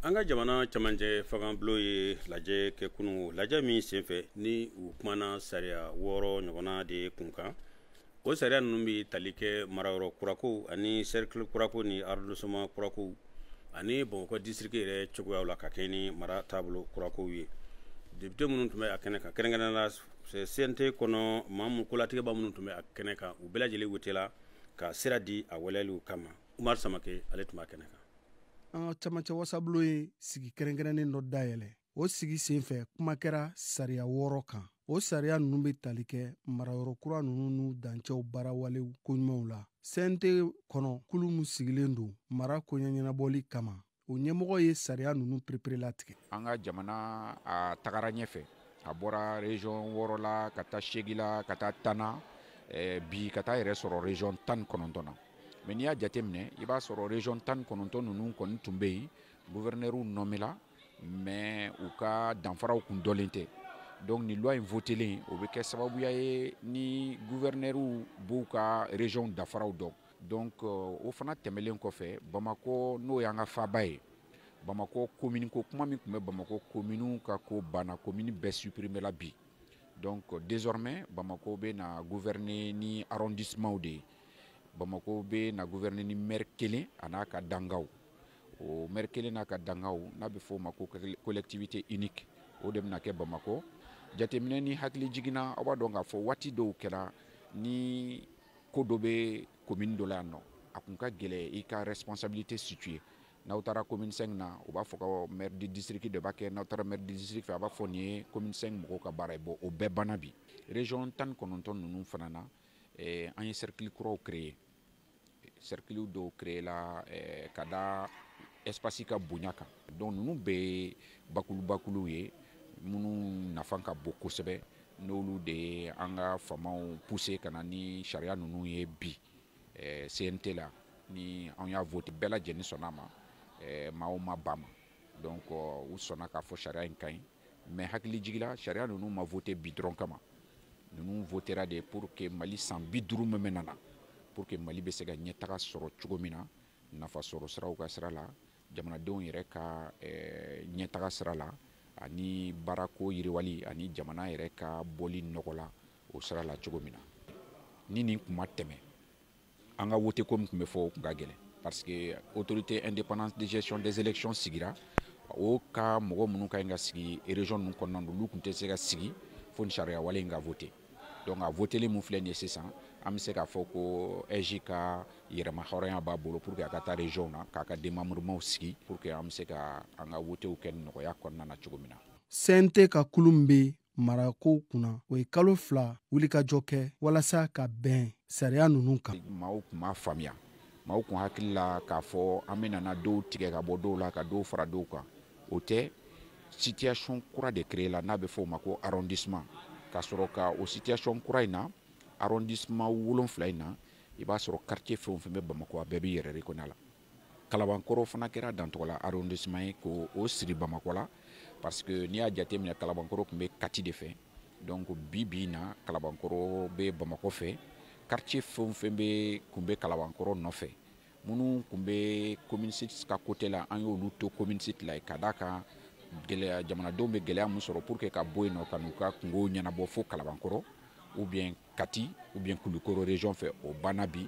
an ka jamana camancɛ fangabulon ye lajɛ kɛ kunu lajɛ min senfɛ ni u kumana sariya wɔɔrɔ ɲɔgɔnna de ye kun kan o sariya ninnu bɛ tali kɛ marayɔrɔ kurako ani sɛrikili kurako ni arrondissement kurako ani bamakɔ disitiriki yɛrɛ cogoyaw la ka kɛɲɛ ni mara taabolo kurakow ye depite minnu tun bɛ a kɛnɛ kan kɛrɛnkɛrɛnnenya la CNT kɔnɔ maa minnu kolatigɛba minnu tun bɛ a kɛnɛ kan u bɛɛ lajɛlen wotela ka sira di a waleyali kama umaru samake ale tun b'a kɛnɛ kan an ka camancɛ wasabulon ye sigi kɛrɛnkɛrɛnnen dɔ dayɛlɛ o sigi sen fɛ kuma kɛra sariya wɔɔrɔ kan o sariya ninnu bɛ tali kɛ marayɔrɔ kura ninnu n'u dancɛw baarawalew koɲumanw la cnt kɔnɔ kulu min sigilen don mara koɲɛ ɲɛnabɔli kama o ɲɛmɔgɔ ye sariya ninnu pereperelatigɛ an ka jamana a tagara ɲɛfɛ a bɔra region wɔɔrɔ la ka taa segi la ka taa tan na eh, bi ka taa yɛrɛ sɔrɔ region tan ni kɔnɔntɔn na mais n'i y'a jateminɛ i b'a sɔrɔ region tan ni kɔnɔntɔn ninnu kɔni tun bɛ yen guvɛrinɛriw nɔmela mais u ka danfaraw kun dɔnlen tɛ donc nin loi in votelen o bɛ kɛ sababuya ye ni guvɛrinɛriw b'u ka regionw danfaraw dɔn donc euh, o fana tɛmɛlen kɔfɛ bamakɔ n'o y'an ka faaba ye bamakɔ komini ko kuma min tun bɛ bamakɔ kominiw ka ko banna komini bɛɛ suprimela bi donc euh, désormais bamakɔ bɛ na gouverner ni arrondissementw de ye bamako bɛ na gouverner ni maire kelen an'a ka dangaw o maire kelen n'a ka dangaw n'a bɛ fɔ o ma ko collectivité unique o de bɛna kɛ bamakɔ jateminɛ ni hakilijigin na aw b'a dɔn k'a fɔ waati dɔw kɛra ni ko dɔ bɛ commune dɔ la yan nɔ a tun ka gɛlɛn i ka responsabilité situer n'aw taara commune 5 na u b'a fɔ ko maire du district de b'a kɛ n'aw taara maire du district fɛ a b'a fɔ nin ye commune 5 mɔgɔw ka baara ye bon o bɛɛ banna bi région tan ni kɔnɔntɔn ninnu fana na eh, an ye cercle kuraw créer cercle dɔw créer la eh, ka da espace ka bonya kan donc ninnu bɛɛ ye bakulubakuluw ye minnu nafa ka bon kosɛbɛ n'olu de ye an ka famaw pousser ka na ni sariya ninnu ye bi eh, CNT la ni an y'a vote bɛɛ lajɛlen sɔnna a ma eh, maaw ma ban a ma donc euh, u sɔnna k'a fɔ sariya in ka ɲi mais hakilijigi la sariya ninnu ma vote bi dɔrɔn kama ninnu votera de pour que mali san bi duuru min bɛna na pour que mali bɛ se ka ɲɛtaga sɔrɔ cogo min na nafa sɔrɔ siraw ka sira la jamanadenw yɛrɛ ka eh, ɲɛtaga sira la ani baarako yiriwali ani jamana yɛrɛ ka bɔli nɔgɔ la o sira la cogo min na ni nin kuma tɛmɛ an ka wote ko min tun bɛ fɔ o kun ka gɛlɛn parce que autorité indépendante de gestion des élections sigira o ka mɔgɔ minnu ka ɲi ka sigi région ninnu kɔnɔna na olu tun tɛ se ka sigi fo ni sariya wale in ka vote donc a votelen min filɛ nin ye sisan an bɛ se k'a fɔ ko AIGE ka yɛrɛma hɔrɔnya b'a bolo pour que a ka taa régionw na k'a ka démembrementw sigi pour que an bɛ se ka an ka wotew kɛ nɔgɔya kɔnɔna na cogo min na. CNT ka kulu min bɛ marakow kunna o ye kalo fila wulikajɔ kɛ walasa ka bɛn sariya ninnu kan maaw kun m'a faamuya maaw kun hakili la k'a fɔ an bɛnana dɔw tigɛ ka bɔ dɔw la ka dɔw fara dɔw kan o tɛ situation kura de créer la n'a bɛ fɔ o ma ko arrondissement ka sɔrɔ ka o situation kura in na arrondissement wolonfila in na i b'a sɔrɔ quartier fɛn o fɛn bɛ bamakɔ a bɛɛ b'i yɛrɛ reconnaître a la kalabankɔrɔ fana kɛra dantɔgɔla arrondissement ye k'o siri bamakɔ la parce que n'i y'a jateminɛ kalabankɔrɔ kun bɛ kati de fɛ donc bi bi in na kalabankɔrɔ bɛ bamakɔ fɛ quartier fɛn o fɛn kun bɛ kalabankɔrɔ nɔfɛ minnu kun bɛ commune six ka côté la an y'olu to commune six la ka d'a kan gɛlɛya jamanadenw bɛ gɛlɛya min sɔrɔ pour que ka bɔ yen nɔ ka n'u ka kunkow ɲɛnabɔ fo kalabankɔrɔ ou bien kati ou bien kulukɔrɔ région fɛ o banna bi